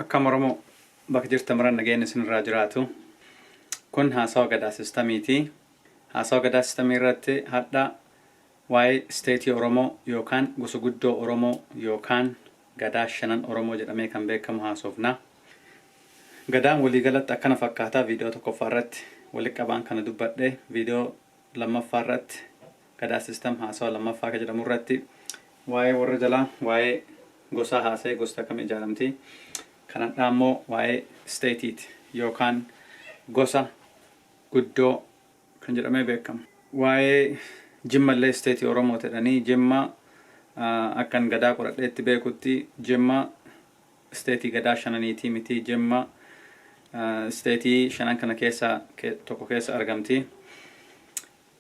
Akkam Oromoo bakka jirtan maratti nageenyi isinirraa jiraatu. Kun haasawa gadaa sistamiiti. Haasawa gadaa sistamii irratti hadha waa'ee isteetii Oromoo yookaan gosa guddoo Oromoo yookaan gadaa shanan Oromoo jedhamee kan beekamu haasofna. Gadaan waliigalatti akkana fakkaata viidiyoo tokkoffaa irratti walitti qabaan kana dubbadhe viidiyoo lammaffaa irratti Gadaa System haasawa lammaffaa ka jedhamu irratti waa'ee warra jalaa, waa'ee gosaa haasa'ee gosti akkamiin ijaaramti. Kan hadhaa immoo waa'ee state ti yookaan gosa guddoo kan jedhamee beekamu. Waa'ee Jimma illee state Oromoo ti jedhanii Jimma akkan Gadaa qoradheetti beekutti Jimma state Gadaa shananiitii miti Jimma state shanan kana keessaa tokko keessa argamti.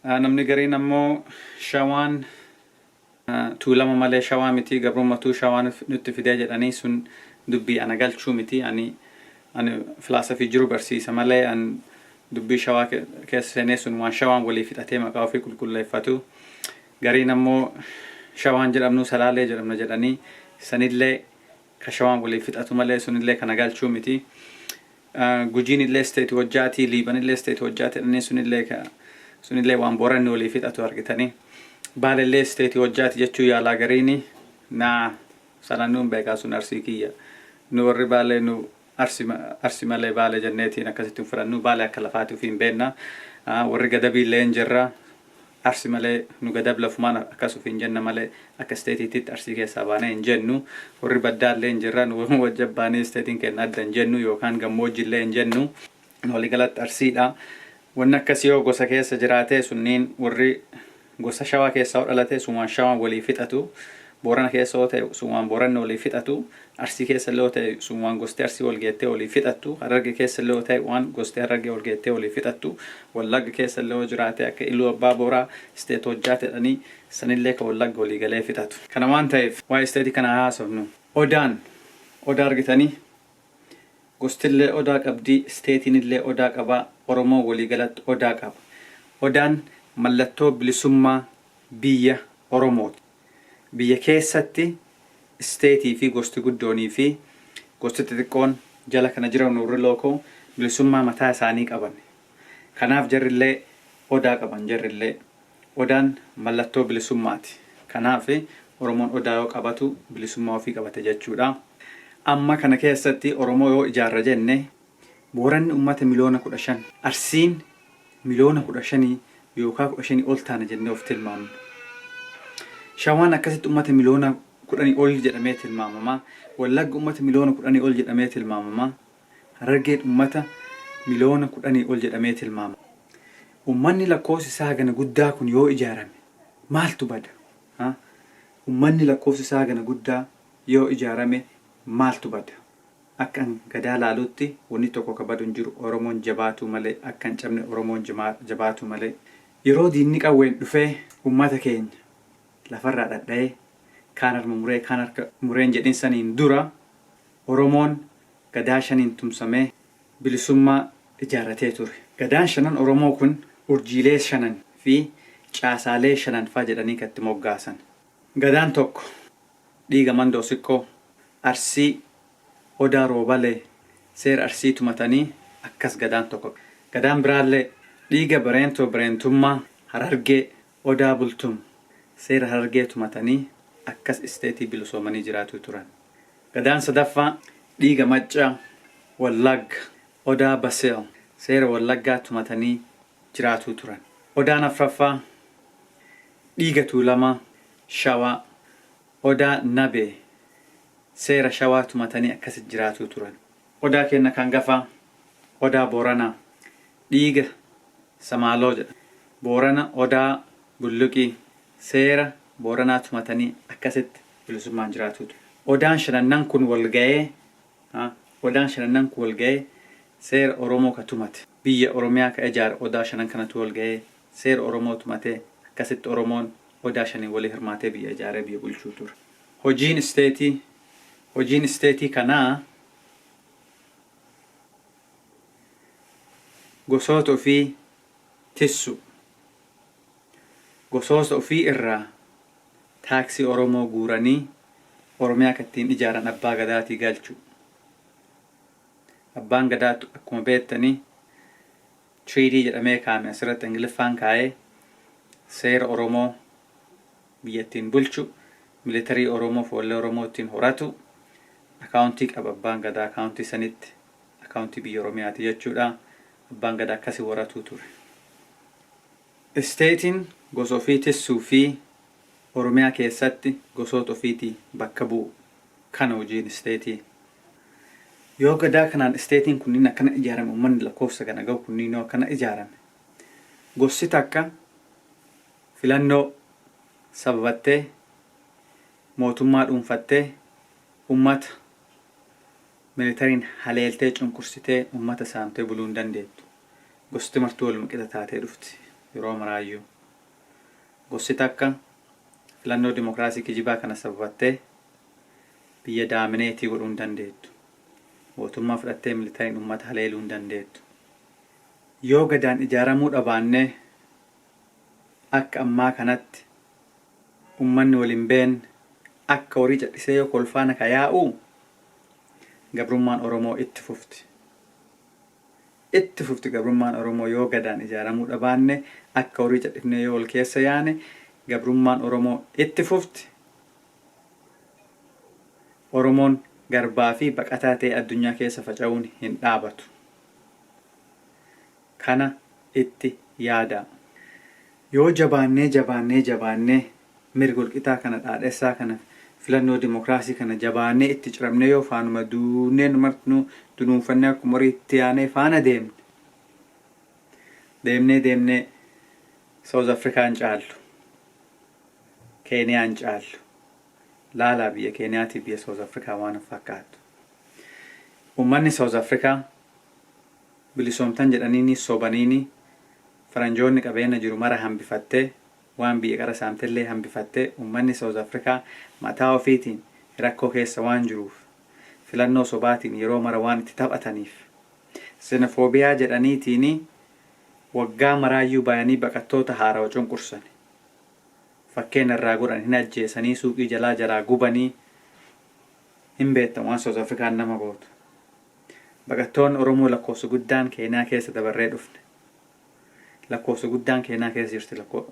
Namni gariin ammoo Shawaan Tuulama malee Shawaa miti, gabrummatuu Shawaa nutti fidee jedhanii sun dubbii ana galchuu miti. Ani ani filaasafii jiru barsiisa malee an dubbii Shawaa keessa seenee sun waan Shawaan waliif hidhatee maqaa ofii qulqulleeffatu. Gariin ammoo Shawaan jedhamnuu Salaalee jedhamna jedhanii sanillee Ka Shawaan waliin fixatu malee sunillee ka na galchuu miti. Gujiinillee state hojjaati, Liibanillee state hojjaati jedhanii sunillee ka sunillee waan Booranni waliin fixatu argitanii. Baalellee state hojjaati jechuu yaalaa gariini. Naa sana nuun beekaa sun Arsii kiyya. Nu warri Baalee nu Arsi malee Baale jenneetiin akkasitti hin fudhannu. Baale akka lafaati ufiin beenna. Warri Gadabiillee hin jirra. Arsi malee nu Gadab lafumaan akkas ufiin jenna malee akka isteetiititti Arsii keessaa baanee hin jennu. Warri Baddaallee hin jirra. Nu wajji abbaanii isteetiin keenna adda hin jennu yookaan gammoojjillee hin jennu. Waligalatti Arsiidha. Wanni akkasii yoo gosa keessa jiraatee sunniin warri gosa Shawaa keessaa yoo dhalatee sumaan Shawaan walii fixatu. Boorana keessa yoo ta'e sumaan Booranni walii fixatu. Arsii keessa illee yoo ta'e sumaan gosti Arsii wal geettee walii fixattu. Hararge keessa illee yoo ta'e waan gosti Harargee wal geettee walii fixattu. Wallagga keessa illee yoo jiraatee akka Iluu Abbaa Booraa state hojjaa jedhanii sanillee ka Wallagga walii galee fixatu. Kana waan ta'eef waa'ee state kanaa haa haasofnu. Odaan Odaa argitanii? Gostillee odaa qabdi, isteetiinillee odaa qaba, Oromoon waliigalatti odaa qaba. Odaan mallattoo bilisummaa biyya Oromooti. Biyya keessatti isteetii fi gosti guddoonii fi gosti xixiqqoon jala kana jiran warri lookoo bilisummaa mataa isaanii qaban. Kanaaf jarrillee odaa qaban jarrillee. Odaan mallattoo bilisummaati. Kanaaf Oromoon Odaa yoo qabatu bilisummaa ofii qabate jechuudha. Amma kana keessatti Oromoo yoo ijaarra jenne Booranni ummata miliyoona 15, Arsiin miliyoona 15 yookaa 15 ol taana jennee of tilmaamna. Shawaan akkasitti ummata miliyoona 10 ol jedhamee tilmaamama. Wallagga ummata miliyoona 10 ol jedhamee tilmaamama. Harargeen ummata miliyoona kudhanii ol jedhamee tilmaamama. Ummanni lakkoofsi isaa hagana guddaa kun yoo ijaarame maaltu bada? a. Ummanni lakkoofsi isaa hagana guddaa yoo ijaarame maaltu bada? Akkan Gadaa laalutti wanni tokko ka badu hin jiru. Oromoon jabaatuu malee akka hin cabne Oromoon jabaatuu malee. Yeroo diinni qawween dhufee ummata keenya lafarraa dhadhayee kaan harma muree kaan harka muree hin jedhin saniin dura Oromoon Gadaa shaniin tumsamee bilisummaa ijaarratee ture. Gadaan shanan Oromoo kun urjiilee shanan fi caasaalee shanan faa jedhanii kan itti moggaasan. Gadaan tokko dhiiga Mandoo Sikkoo, Arsii, Odaa Roobalee, seera Arsii tumatanii akkas Gadaan tokko. Gadaan biraallee dhiiga Bareentoo Bareentummaa, Harargee, Odaa Bultum seera Harargee tumatanii akkas isteetii bilisoomanii jiraatuu turan. Gadaan sadaffaa dhiiga Maccaa, Wallaagga, Odaa Baseel seera Wallaggaa tumatanii jiraatuu turan. Odaan afraffaa dhiiga Tuulamaa, Shawaa, Odaa Nabee seera Shawaa tumatanii akkasi jiraatuu turan. Odaa keenna ka angafaa Odaa Booranaa. Dhiiga Samaaloo jedha. Boorana Odaa Bulluqii. Seera Booranaa tumatanii akkasitti bilisummaan jiraatuu ture. Odaan shanannan kun wal gayee, Odaan shanannan kun wal gayee seera Oromoo ka tumate. Biyya Oromiyaa ka ijaare Odaa shanan kanatu wal gayee seera Oromoo tumatee akkasitti Oromoon Odaa shaniin wali hirmaatee biyya ijaaree biyya bulchuu ture. Hojiin isteetii, Hojiin isteetii kanaa. Gosoota ofii tissuu. Gosoosa ofii irraa taaksii Oromoo guuranii Oromiyaa ka ittiin ijaaran Abbaa Gadaatii galchuu. Abbaan Gadaa akkuma beektani treaty jedhamee kaa'ame asirratti Ingiliffaan kaa'ee seera Oromoo, biyya ittiin bulchu, militarii Oromoo foollee Oromoo ittiin horatu, akaawuntii qaba abbaan gadaa akaawuntii sanitti akaawuntii biyya Oromiyaati jechuudha. Abbaan gadaa akkasi horatuu ture. Isteetiin gosa ofii tissuu fi Oromiyaa keessatti gosoota ofiitii bakka bu'u. Kana hojiin isteetii. Yoo gadaa kanaan isteetiin kunniin akkana ijaarame ummanni lakkoofsa kana gahu kunniin yoo akkana ijaarame gossi takka Filannoo sababattee mootummaa dhuunfattee ummata militariin haleeltee cunqursitee ummata saamtee buluu hin dandeettu. Gosti martuu waluma qixa taatee dhufti yeroo maraayyuu. Gosti takka filannoo dimokiraasii kijibaa kana sababattee biyya daamineetii godhuu hin dandeettu. Mootummaa fudhattee militariin ummata haleeluu hin dandeettu. Yoo Gadaan ijaaramuu dhabaannee Akka ammaa kanatti ummanni wal hin beenne akka horii cadhisee yoo kolfaa na ka yaa'uu gabrummaan Oromoo itti fufti. Itti fufti gabrummaan Oromoo yoo Gadaan ijaaramuu dhabaanne akka horii cadhifnee yoo wal keessa yaane gabrummaan Oromoo itti fufti. Oromoon garbaa fi baqataa ta'ee addunyaa keessa faca'uun hin dhaabatu. Kana itti yaadaa. Yoo jabaannee jabaannee jabaannee mirg walqixaa kana dhaadhessaa kana filannoo dimokraasii kana jabaannee itti ciramnee yoo faanuma duunnee nu martinuu dunuunfannee akkuma horii itti yaanee faana deemne deemnee deemnee South Africa hin caallu Keniyaa hin caallu laalaa biyya Keniyaatiif biyya South Africa waan hin fakkaattu. Ummanni South Africa bilisoomtan jedhaniini sobaniini faranjoonni qabeenna jiru mara hambifatte waan biyya qara saamtellee hambifatte ummanni South Africa mataa ofiitiin rakkoo keessa waan jiruuf filannoo sobaatiin yeroo mara waan itti taphataniif xenophobia jedhaniitiini waggaa maraayyuu bayanii baqattoota haarawa cunqursani fakkeenna irraa godhan hin ajjeesanii suuqii jalaa jaraa gubanii hin beettan waan South African nama gootu Baqattoonni Oromoo lakkoofsi guddaan Keeniyaa keessa dabarree dhufne. Lakkoofsi guddaan Keeniyaa keessa jirti lakkoo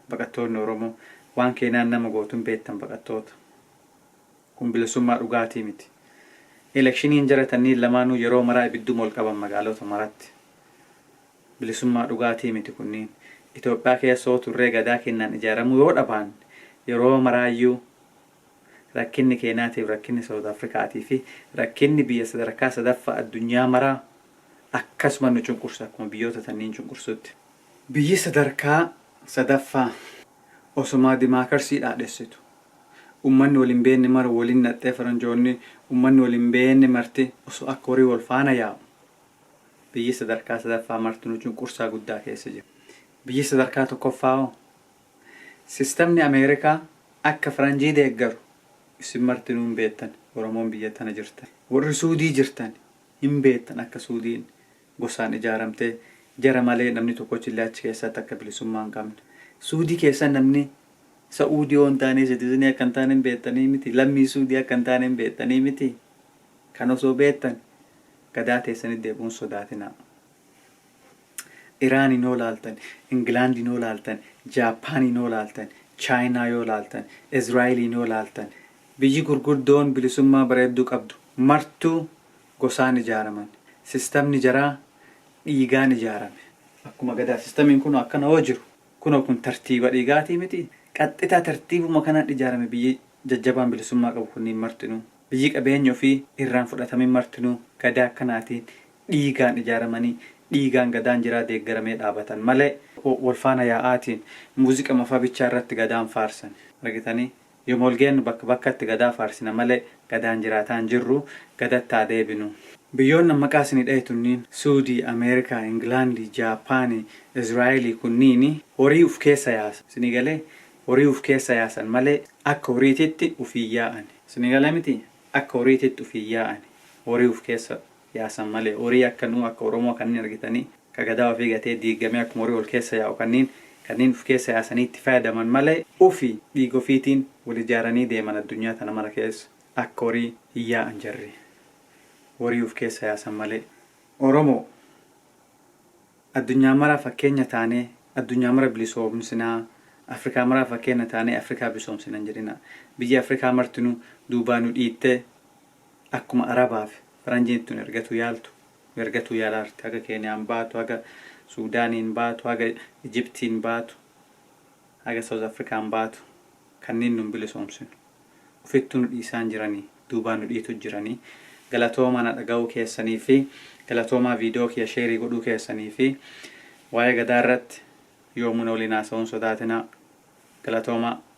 baqattoonni Oromoo. Waan Keeniyaan nama gootu hin beektan baqattoota. Kun bilisummaa dhugaatii miti. Elekshiniin jara tanniin lamaanuu yeroo maraa ibidduma ol qaban magaalota maratti. Bilisummaa dhugaatii miti kunniin. Itoophiyaa keessa yoo turree gadaa keennaan ijaaramuu yoo dhabaanne yeroo maraayyuu Rakkinni Keeniyaatiif rakkinni Saawuz Afrikaatii fi rakkinni biyya sadarkaa sadaffaa addunyaa maraa akkasuma nu cunqursa akkuma biyyoota tanniin cunqursutti. Biyyi sadarkaa sadaffaa osomaa dimaakarsii dhaadhessitu ummanni wal hin beenne mara waliin naxxee faranjoonni ummanni wal hin beenne marti osoo akka horii wal faana yaa'u biyyi sadarkaa sadaffaa marti nu cunqursaa guddaa keessa jira. Biyyi sadarkaa tokkoffaa hoo? Sistamni Ameerikaa akka Faranjii deeggaru isin martinuu hin beettan, Oromoon biyya tana jirtan. Worri Suudii jirtan hin beettan akka Suudiin gosaan ijaaramtee jara malee namni tokkochillee achi keessatti akka bilisummaa hin qabne. Suudii keessa namni Sa'uudii yoo hin taanee Sitizinii akka hin taane hin beettanii mitii? Lammii Suudii akka hin taane hin beettanii mitii? Kana osoo beettan gadaa teessanitti deebi'uu hin sodaatinaa. Iraaniin hoo laaltan, Ingilaandiin hoo laaltan, Jaappaaniin hoo laaltan, Chaayinaa yoo laaltan, Israa'eliin yoo laaltan biyyi gurguddoon bilisummaa bareedduu qabdu martuu gosaan ijaaraman. Sistamni jaraa dhiigaan ijaarame. Akkuma Gadaa sistamiin kunoo akkana hoo jiru kunoo kun tartiiba dhiigaatii mitii? Qaxxitaa tartiibuma kanaan ijaarame biyyi jajjabaan bilisummaa qabu kunniin martinuu. Biyyi qabeenyi ofii irraan fudhatamin martinuu Gadaa akkanaatiin dhiigaan ijaaramanii, dhiigaan Gadaan jiraa deeggaramee dhaabatan malee wal faana yaa'aatiin muuziqama faa bichaa irratti Gadaan faarsan. Argitanii? Yoma wal geennu bakka bakkatti Gadaa faarsina malee Gadaan jiraataa hin jirru. Gadatti haa deebinu. Biyyoonni an maqaa isinii dhahe tunniin, Suudii, Ameerikaa, Ingilaandii, Jaappaanii, Israa'eelii kunniini horii uf keessa yaasan. Isinii galee? Horii uf keessa yaasan malee akka horiititti uf hin yaa'ani. Isinii galee mitii? Akka horiititti uf hin yaa'ani. Horii uf keessa yaasan malee horii akka nuu akka oromoo kanniin argitanii ka gadaa ofii gatee diiggamee akkuma horii wal keessa yaa'u kanniin kanniin uf keessa yaasanii itti faayadaman malee ufi dhiiga ofiitiin wal ijaaranii deeman addunyaa tana mara keessa akka horii hin yaa'an jarri horii uf keessa yaasan malee oromoo addunyaa maraaf fakkeenya taanee addunyaa mara bilisoomsinaa afrikaa maraaf fakkeenya taanee afrikaa bilisoomsina hin jedhinaa biyyi afrikaa martinuu duubaa nu dhiittee Akkuma Arabaa fi Faranjiin tun ergatuu yaaltu ergatuu yaalaa jirti. Haga Keeniyaan baatu, haga Suudaaniin baatu, haga Ijiptiin baatu, haga South Afrikaan baatu kanniin nun bilisoomsinu. Ufittuu nu dhiisaan jiranii, duubaan nu dhiitu jiranii. Galatoomaa na dhagahuu keessanii fi galatoomaa viidiyoo kiyya sheerii godhuu keessanii fi waa'ee Gadaa irratti yoomuu na waliin haasawuun sodaatinaa. Galatoomaa.